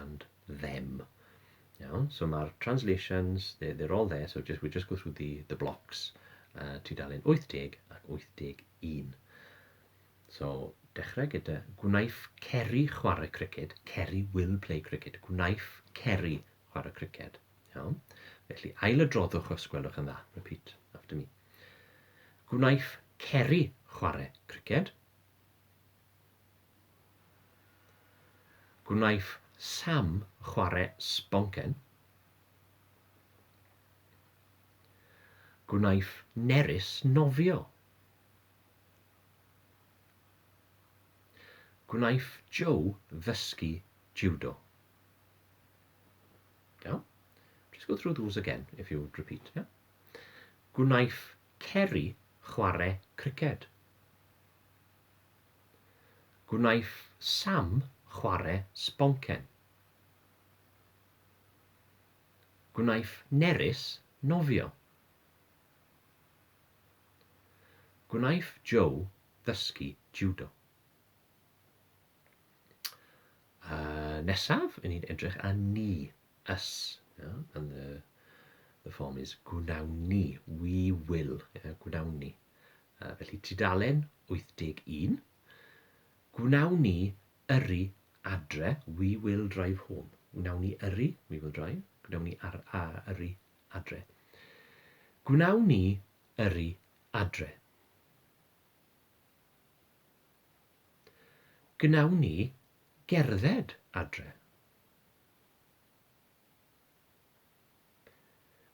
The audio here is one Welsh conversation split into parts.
and them. Iawn, so mae'r translations, they're, they're all there, so just, we just go through the, the blocks, uh, tudalen 80 ac 81. So, dechrau gyda gwnaeth Ceri chwarae criced, Ceri will play cricket, gwnaeth Ceri chwarae criced. Iawn? Felly, ail y droddwch os gwelwch yn dda, repeat after me. Gwnaeth Ceri chwarae criced. Gwnaeth Sam chwarae sboncen. Gwnaeth Nerys nofio. Gwnaeth Joe ddysgu jiwdo. Iawn? Just go through those again if you repeat. Yeah? Gwnaeth Ceri chwarae criced. Gwnaeth Sam chware sboncen. Gwnaeth Nerys nofio. Gwnaeth Joe ddysgu jiwdo. A nesaf, i ni'n edrych ar ni, us, yeah, and the, the form is gwnawn ni, we will, yeah, gwnawn ni. Felly, tudalen 81, gwnawn ni yrru adre, we will drive home. Gwnawn ni yrru, we will drive, gwnawn ni ar, a, yrru adre. Gwnawn ni yrru adre. Gwnawn ni gerdded adre.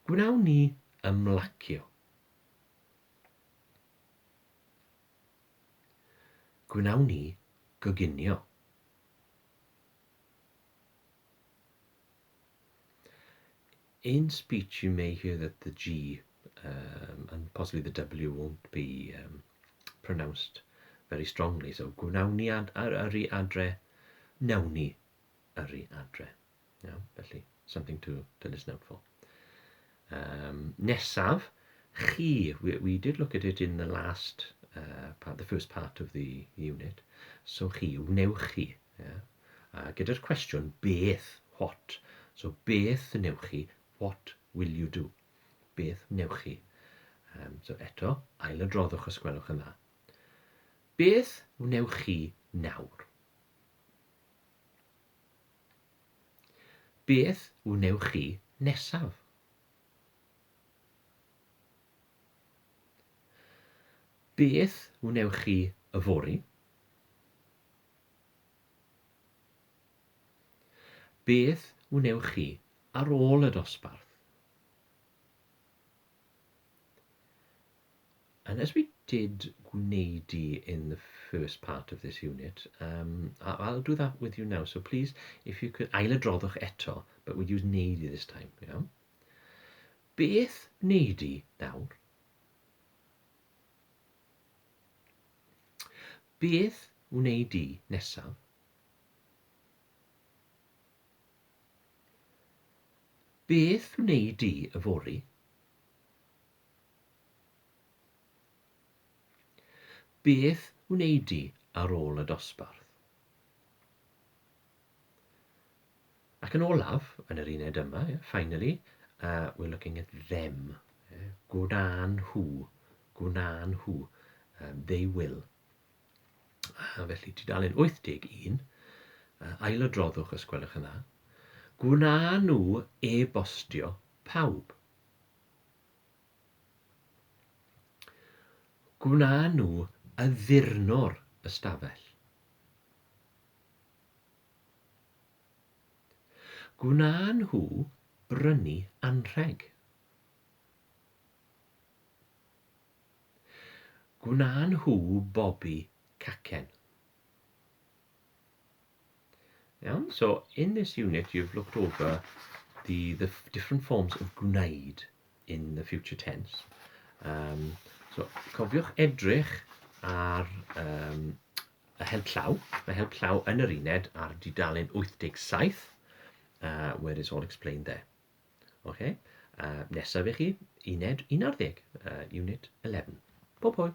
Gwnawn ni ymlacio Gwnawn ni goginio. In speech you may hear that the G um, and possibly the W won't be um, pronounced very strongly. So gwnawn ni ad, ar, yrru adre, nawn ni yrru adre. Iawn, felly, something to, to listen out for. Um, nesaf, chi, we, we did look at it in the last, uh, part, the first part of the unit, so chi, wnewch chi, yeah? uh, gyda'r cwestiwn beth, what, so beth wnewch chi, what will you do, beth wnewch chi. Um, so eto, ail y droddwch os gwelwch yn dda. Beth wnewch chi nawr? Beth wnewch chi nesaf? Beth wnewch chi yfory? Beth wnewch chi ar ôl y dosbarth? And as we did gwneudu in the first part of this unit, um, I'll do that with you now. So please, if you could, ail adroddwch eto, but we'd use gwneudu this time, you know. Beth gwneudu nawr? Beth gwneudu nesaf? Beth wneud di yfory? Beth wnei di ar ôl y dosbarth? Ac yn olaf, yn yr uned yma, yeah, finally, uh, we're looking at them. Yeah, gwna'n nhw, gwna'n nhw, um, they will. A felly, tudalen 81, uh, ail o droddwch os gwelwch yn dda. Gwna'n nhw e-bostio pawb. Gwna nhw addurno'r ystafell. Gwna nhw brynu anrheg. Gwna nhw bobi cacen. Iawn, so in this unit you've looked over the, the different forms of gwneud in the future tense. Um, so, cofiwch edrych ar um, y help llaw. Mae help llaw yn yr uned ar dudalen 87, uh, where it's all explained there. Okay? Uh, nesaf i chi, uned 11, uh, unit 11. Pob hwyl!